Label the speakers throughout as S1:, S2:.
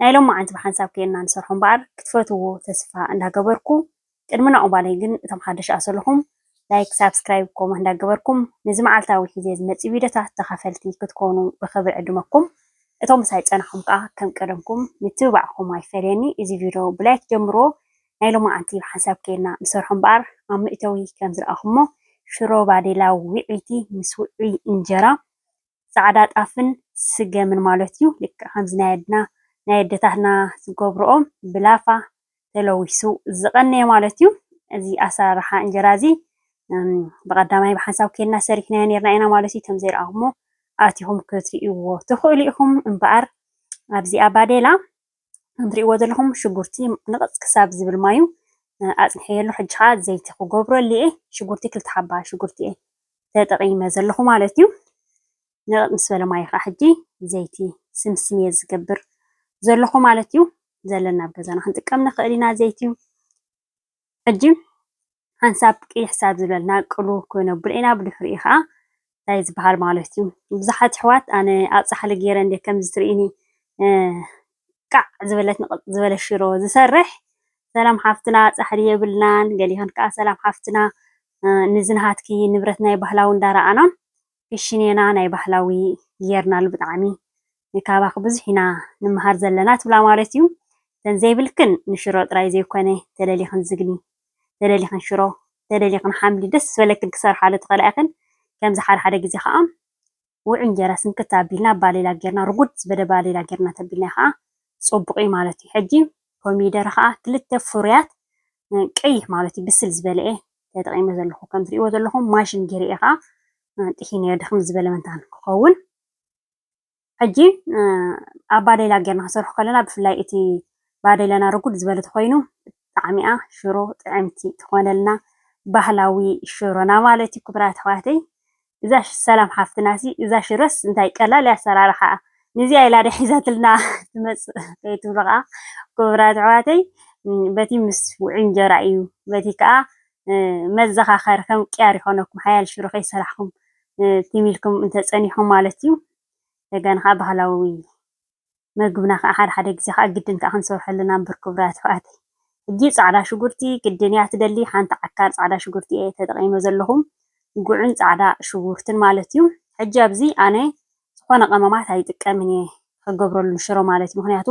S1: ናይ ሎማዓንቲ ብሓንሳብ ከይንና ንሰርሖ እምበኣር ክትፈትውዎ ተስፋ እንዳገበርኩ ቅድሚ ናኡ ባለይ ግን እቶም ሓደሽ ኣሰለኹም ላይክ ሳብስክራይብ ኮሞት እንዳገበርኩም ንዚ ማዓልታዊ ሒዜ ዝመጽእ ቪድዮታት ተኻፈልቲ ክትኮኑ ብኽብሪ ዕድመኩም እቶም ምሳይ ዝጸናኹም ከኣ ከም ቀደምኩም ምትብባዕኩም ኣይፈለየኒ እዚ ቪድዮ ብላይክ ጀምርዎ ናይ ሎማዓንቲ ብሓንሳብ ከይንና ንሰርሖ እምበኣር ኣብ መእተዊ ከም ዝረኣኹሞ ሽሮ ባዴላ ዊዕይቲ ምስ ውዑይ እንጀራ ጻዕዳ ጣፍን ስገምን ማለት እዩ ልክዕ ከምዚ ናይ ኣድና ናይ ኣደታትና ዝገብርኦ ብላፋ ተለዊሱ ዝቐነየ ማለት እዩ እዚ ኣሰራርሓ እንጀራ እዚ ብቐዳማይ ብሓንሳብ ኬድና ሰሪሕናዮ ነርና ኢና ማለት እዩ ከም ዘይረኣኹሞ ኣቲኹም ክትርእይዎ ትኽእሉ ኢኹም እምበኣር ኣብዚ ኣባዴላ ከም እትሪእዎ ዘለኹም ሽጉርቲ ንቕፅ ክሳብ ዝብል ማዩ ኣፅኒሐዮ ኣለኹ። ሕጂ ከዓ ዘይቲ ክገብረሉ እየ። ሽጉርቲ ክልተ ሓባ ሽጉርቲ እየ ተጠቒመ ዘለኹ ማለት እዩ። ንቕፅ ምስ በለ ማዩ ከዓ ሕጂ ዘይቲ ስምስም እየ ዝገብር ዘለኹ ማለት እዩ። ዘለና ኣብ ገዛና ክንጥቀም ንኽእል ኢና ዘይቲ። ሕጂ ሓንሳብ ቅይሕ ሳብ ዝበልና ቅሉ ኮይኖ ብርዕና ብድሕሪኡ ከኣ ታይ ዝበሃል ማለት እዩ ብዙሓት ኣሕዋት ኣነ ኣብ ጻሕሊ ገይረ እንደ ከምዚ ትርእኒ ቃዕ ዝበለት ንቕጽ ዝበለ ሽሮ ዝሰርሕ ሰላም ሓፍትና ጻሕሊ የብልናን ገሊኸን ከኣ ሰላም ሓፍትና ንዝንሃትኪ ንብረት ናይ ባህላዊ እንዳረኣና ፊሽኔና ናይ ባህላዊ ጌርናሉ ብጣዕሚ ንካባኪ ብዙሕ ኢና ንመሃር ዘለና ትብላ ማለት እዩ እተን ዘይብልክን ንሽሮ ጥራይ ዘይኮነ ተደሊክን ዝግኒ ተደሊክን ሽሮ ተደሊክን ሓምሊ ደስ ዝበለክን ክሰርሓሉ ትክእላ ኢክን ከምዚ ሓደ ሓደ ግዜ ከኣ ውዑይ እንጀራ ስንክት ኣቢልና ባሌላ ጌርና ርጉድ ዝበለ ባሌላ ጌርና ተቢልና ከኣ ጽቡቅ እዩ ማለት እዩ ሕጂ ኮሚደረ ከኣ ክልተ ፍሩያት ቀይሕ ማለት እዩ ብስል ዝበለ እየ ተጠቒመ ዘለኹ። ከም ትርእይዎ ዘለኹም ማሽን ገይረ'የ ከኣ ጥሒነዮ ድኽም ዝበለ መንታን ክኸውን። ሕጂ ኣብ ባዴላ ጌርና ክንሰርሖ ከለና ብፍላይ እቲ ባዴላና ርጉድ ዝበለ ተኾይኑ ብጣዕሚ'ያ ሽሮ ጥዕምቲ ትኾነልና። ባህላዊ ሽሮና ማለት እዩ ክቡራት ኣሕዋተይ። እዛ ሰላም ሓፍትናሲ እዛ ሽረስ እንታይ ቀላል እያ ኣሰራርሓኣ ንዚኣ ኢላ ድያ ሒዛትልና ትመጽእ ከይትብሉ ከኣ ክቡራት ኣሕዋተይ በቲ ምስ ውዑይ እንጀራ እዩ በቲ ከኣ መዘኻኸሪ ከም ቅያር ይኾነኩም ሓያል ሽሮ ከይሰራሕኩም ትም ኢልኩም እንተጸኒሕኩም ማለት እዩ ደገን ከኣ ባህላዊ መግብና ካኣ ሓደ ሓደ ግዜ ካኣ ግድን ካኣ ክንሰርሐሉ ኢና እምብር ኩቡራት ኣሕዋተይ ሕጂ ጻዕዳ ሽጉርቲ ግድን ኢያ ትደሊ ሓንቲ ዓካር ጻዕዳ ሽጉርቲ ኢየ ተጠቂመ ዘለኹ ጉዕን ጻዕዳ ሽጉርትን ማለት ኢዩ ሕጂ ኣብዚ ኣነ ዝኾነ ቀመማት ኣይጥቀምን ኢየ ክገብረሉ ንሽሮ ማለት ኢዩ ምኽንያቱ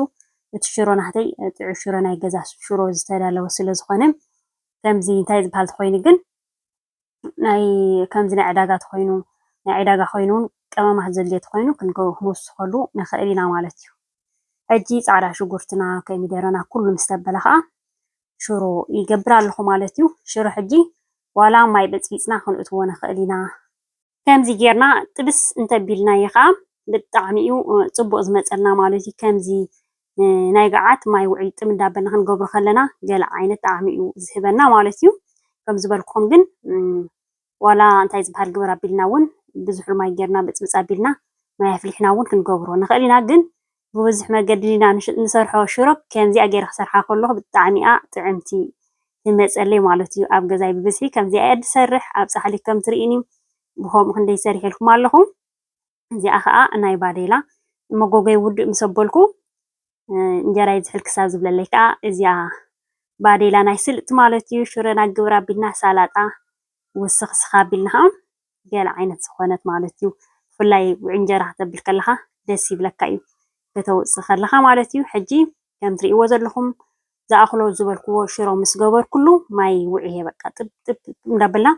S1: እቲ ሽሮ ናህተይ ጥዑይ ሽሮ ናይ ገዛ ሽሮ ዝተዳለወ ስለ ዝኾነ ከምዚ እንታይ ዝብሃል ተኾይኑ ግን ናይ ከምዚ ናይ ዕዳጋ ተኾይኑ ናይ ዕዳጋ ኮይኑ እውን ቀመማት ዘድልዮ ተኾይኑ ክንውስኸሉ ንኽእል ኢና ማለት እዩ። ሕጂ ጻዕዳ ሽጉርትና ኮሚደረና ኩሉ ምስ ተበለ ከዓ ሽሮ ይገብር ኣለኹ ማለት እዩ። ሽሮ ሕጂ ዋላ ማይ በጽቢጽና ክንእትዎ ንኽእል ኢና። ከምዚ ጌርና ጥብስ እንተቢልናዮ ከኣ ብጣዕሚ እዩ ጽቡቕ ዝመጸልና ማለት እዩ። ከምዚ ናይ ገዓት ማይ ውዕይ ጥም እንዳበልና ክንገብሮ ከለና ገለ ዓይነት ጣዕሚ እዩ ዝህበና ማለት እዩ። ከም ዝበልኩም ግን ዋላ እንታይ ዝበሃል ግበር ኣቢልና እውን ብዙሕ ማይ ጌርና ብጽብጽ ኣቢልና ማይ ኣፍሊሕና እውን ክንገብሮ ንኽእል ኢና ግን ብብዙሕ መገዲ ዲና ንሰርሖ ሽሮፕ ከምዚኣ ጌረ ክሰርሓ ከለኩ ብጣዕሚ እያ ጥዕምቲ ትመጸለይ ማለት እዩ ኣብ ገዛይ ብብዝሒ ከምዚኣ እየ ድሰርሕ ኣብ ጻሕሊ ከም ትሪኢኒ ብከምኡ ክንደይ ሰሪሐልኩም ኣለኩ እዚኣ ከኣ ናይ ባዴላ መጎጎይ ውድእ ምስ ኣበልኩ እንጀራ ይዝሕል ክሳብ ዝብለለይ ከኣ እዚኣ ባዴላ ናይ ስልጥ ማለት እዩ ሽሮና ግብር ኣቢልና ሳላጣ ውስክ ስክ ኣቢልና ከኣ ገለ ዓይነት ዝኾነት ማለት እዩ። ብፍላይ እንጀራ ክተብል ከለኻ ደስ ይብለካ እዩ ከተውፅእ ከለኻ ማለት እዩ። ሕጂ ከም ትሪእዎ ዘለኹም ዝኣኽሎ ዝበልክዎ ሽሮ ምስ ገበርኩሉ ማይ ውዕየ በቃ ጥብ ጥብ እንዳበልና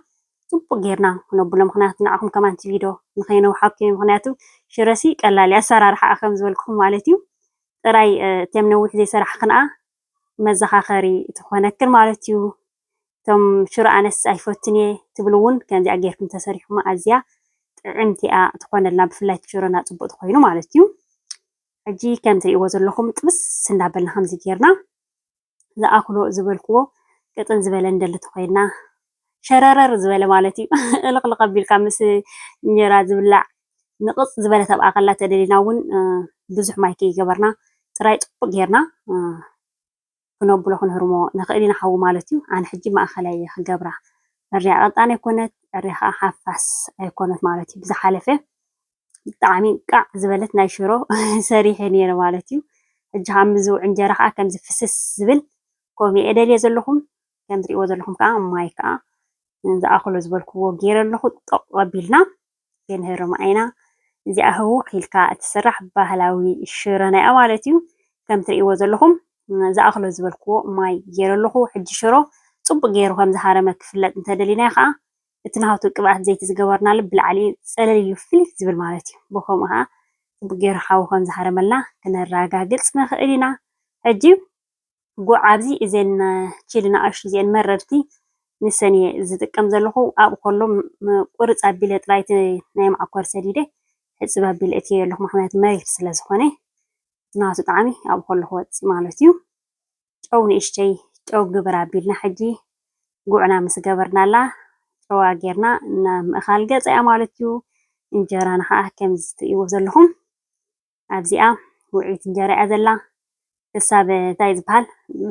S1: ፅቡቅ ጌርና ክነብሎ ምክንያቱ ንዓኹም ከማን እቲ ቪድዮ ንከይነውሓኩም ምክንያቱ ሽረሲ ቀላል እዩ ኣሰራርሓኣ ከም ዝበልክኹም ማለት እዩ። ጥራይ እቶም ነዊሕ ዘይሰራሕክንኣ መዘኻኸሪ ትኾነክን ማለት እዩ። እቶም ሽሮ ኣነስ ኣይፈቱን እየ ትብሉ ውን ከምዚኣ ጌርኩም ተሰሪሕኩማ ኣዝያ ጥዕምቲ እያ ትኾነልና ብፍላይ እቲ ሽሮና ጽቡቅ ተኾይኑ ማለት እዩ ሕጂ ከም ትርእይዎ ዘለኹም ጥብስ እንዳበልና ከምዚ ጌርና ዝኣክሎ ዝበልክዎ ቅጥን ዝበለ ንደሊ ተኾይንና ሸረረር ዝበለ ማለት እዩ እልቕልቕ ኣቢልካ ምስ እንጀራ ዝብላዕ ንቕጽ ዝበለ ተብኣ ከላ ተደሊና እውን ብዙሕ ማይ ከይገበርና ጥራይ ጽቡቅ ጌርና ክነብሎ ክንህርሞ ንኽእል ኢና ሓዊ ማለት ዩ ኣነ ሕጂ ማእከላይ እየ ክገብራ ዕርያ ቀጣን ኣይኮነት ዕርያ ከኣ ሓፋስ ኣይኮነት ማለት ዩ ብዝሓለፈ ብጣዕሚ እንቃዕ ዝበለት ናይ ሽሮ ሰሪሐ ነይረ ማለት እዩ ሕጂ ከዓ ምዝ እንጀራ ከዓ ከምዚ ፍስስ ዝብል ከምኡ እየ ደልየ ዘለኹ ከም ትሪእዎ ዘለኹም ከዓ ማይ ከዓ ዝኣኽሎ ዝበልክዎ ገይረ ኣለኹ ጦቕ ኣቢልና ሴንሄ ሮማኤና እዚኣ ህውኽ ኢልካ እትስራሕ ባህላዊ ሽሮና እያ ማለት እዩ። ከም ትርእይዎ ዘለኹም ዝኣኽሎ ዝበልክዎ ማይ ገይረ ኣለኹ። ሕጂ ሽሮ ጽቡቕ ገይሩ ከም ዝሃረመ ክፍለጥ እንተደሊና ከኣ እቲ ናሃቱ ቅብኣት ዘይቲ ዝገበርናሉ ብላዕሊ ጸለል ኢሉ ፍልይ ዝብል ማለት እዩ። ብኸምኡ ከኣ ጽቡቕ ገይሩ ሓዊ ከም ዝሃረመልና ክነራጋግጽ ንኽእል ኢና። ሕጂ ጉዕ ኣብዚ እዘን ቺሊ ናኣሽቱ እዚኤን መረርቲ ንሰን እየ ዝጥቀም ዘለኩ ኣብ ኮሎ ቁርፅ ኣቢለ ጥራይ እቲ ናይ ማዓኮር ሰዲደ ሕፅብ ኣቢለ እትየዮ ኣለኩ ምክንያቱ መሪር ስለ ዝኮነ ናቱ ጣዕሚ ኣብ ኮሎ ክወፅእ ማለት እዩ ጨው ንእሽተይ ጨው ግብር ኣቢልና ሕጂ ጉዕና ምስ ገበርናላ ጨዋ ጌርና ናብ ምእካል ገፀ እያ ማለት እዩ እንጀራና ከዓ ከምዚ ትርእይዎ ዘለኩም ኣብዚኣ ውዕይት እንጀራ እያ ዘላ ክሳብ እንታይ ዝበሃል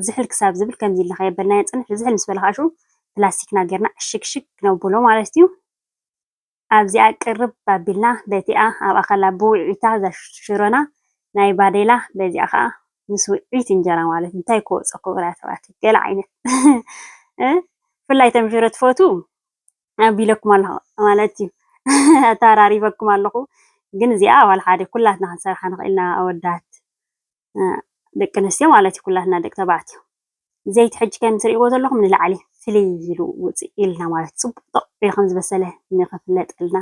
S1: ዝሕል ክሳብ ዝብል ከምዚ ኢልና ከየበልናዮ ፅንሕ ዝሕል ምስ በለ ከዓ ሽኡ ፕላስቲክና ጌርና ዕሽግሽግ ክነብሎ ማለት እዩ ኣብዚኣ ቅርብ ኣቢልና በቲኣ ኣብኣ ከላ ብውዕይታ እዛ ሽሮና ናይ ባዴላ በዚኣ ከዓ ምስ ውዕይት እንጀራ ማለት እንታይ ክወፆ ክብራ ተባቲ ገለ ዓይነት ብፍላይ ተምሽሮ ትፈትው ኣቢለኩም ኣለኹ ማለት እዩ ኣተራሪበኩም ኣለኹ ግን እዚኣ ኣባል ሓደ ኩላትና ክንሰርሓ ንኽእልና ኣወዳት ደቂ ኣንስትዮ ማለት እዩ ኩላትና ደቂ ተባዕትዮ ዘይቲ ሕጂ ከም ትርእይዎ ዘለኹም ንላዕሊ ፍልይ ኢሉ ውፅእ ኢልና ማለት ፅቡቅ ጥቕ ኢሉ ከም ዝበሰለ ንኽፍለጠልና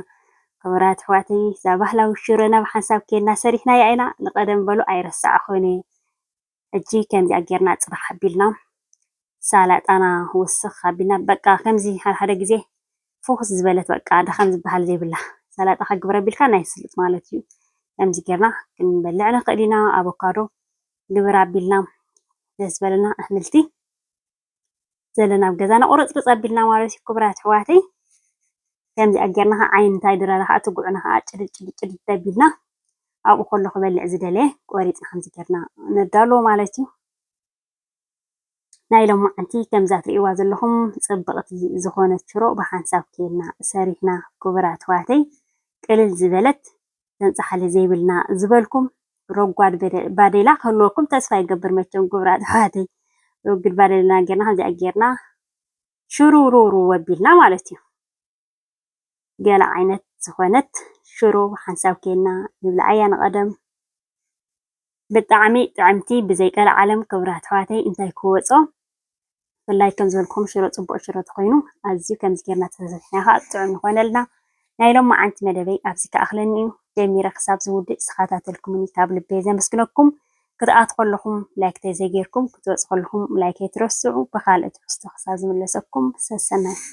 S1: ክቡራት ኣሕዋተይ እዛ ባህላዊ ሽረና ብሓንሳብ ኬና ሰሪሕናያ ኢና ንቀደም በሉ ኣይረሳዕኹን እየ ሕጂ ከምዚኣ ጌርና ጽባሕ ኣቢልና ሳላጣና ወስኽ ኣቢልና በቃ ከምዚ ሓደ ሓደ ግዜ ፉኹስ ዝበለት በቃ ድኻም ዝበሃል ዘይብላ ሳላጣ ከግብረ ኣቢልካ ናይ ስሉጥ ማለት እዩ። ከምዚ ጌርና ክንበልዕ ንኽእል ኢና ኣቮካዶ ግብር ኣቢልና ደስ ዝበለና ኣሕምልቲ ዘለና ኣብ ገዛና ቁርፅርፅ ኣቢልና ማለት እዩ ክቡራት ኣሕዋተይ ከምዚ ኣጌርና ከዓ ዓይኒ እንታይ ድራራ ከዓ እቲ ጉዕና ከዓ ጭድድ ጭድድ ጭድድ ኣቢልና ኣብኡ ከሎ ክበልዕ ዝደለየ ቆሪፅና ከምዚ ጌርና ነዳልዎ ማለት እዩ ናይ ሎማዓንቲ ከምዛ ትርእይዋ ዘለኹም ፅብቕቲ ዝኾነት ሽሮ ብሓንሳብ ኬልና ሰሪሕና ክቡራት ኣሕዋተይ ቅልል ዝበለት ተንጻሓሊ ዘይብልና ዝበልኩም ረጓድ ባዴላ ክህልወኩም ተስፋ ይገብር መቸም ጉብራት ኣሕዋተይ ረጉድ ባዴለና ጌርና ከምዚኣ ጌርና ሽሩሩሩ ወቢልና ማለት እዩ ገለ ዓይነት ዝኾነት ሽሮ ሓንሳብ ኬና ንብልዓያ ንቐደም ብጣዕሚ ጥዕምቲ ብዘይ ቀልዓለም ክብራት ኣሕዋተይ እንታይ ክወፆ ብፍላይ ከም ዝበልኩም ሽሮ ፅቡቅ ሽሮ ተኮይኑ ኣዝዩ ከምዚ ጌርና ተሰብሒና ከዓ ጥዑም ይኮነልና ናይ ሎማዓንቲ መደበይ ኣብዚ ክኣክለኒ እዩ ጀሚረ ክሳብ ዝውድእ ዝተከታተልኩምኒ ካብ ልበይ ዘመስግነኩም ክትኣቱ ከለኩም ላይክተይ ዘይጌርኩም ክትወፁ ከለኩም ላይክ ኣይትረስዑ ብካልእ ትሕዝቶ ክሳብ ዝምለሰኩም ሰሰናዩ።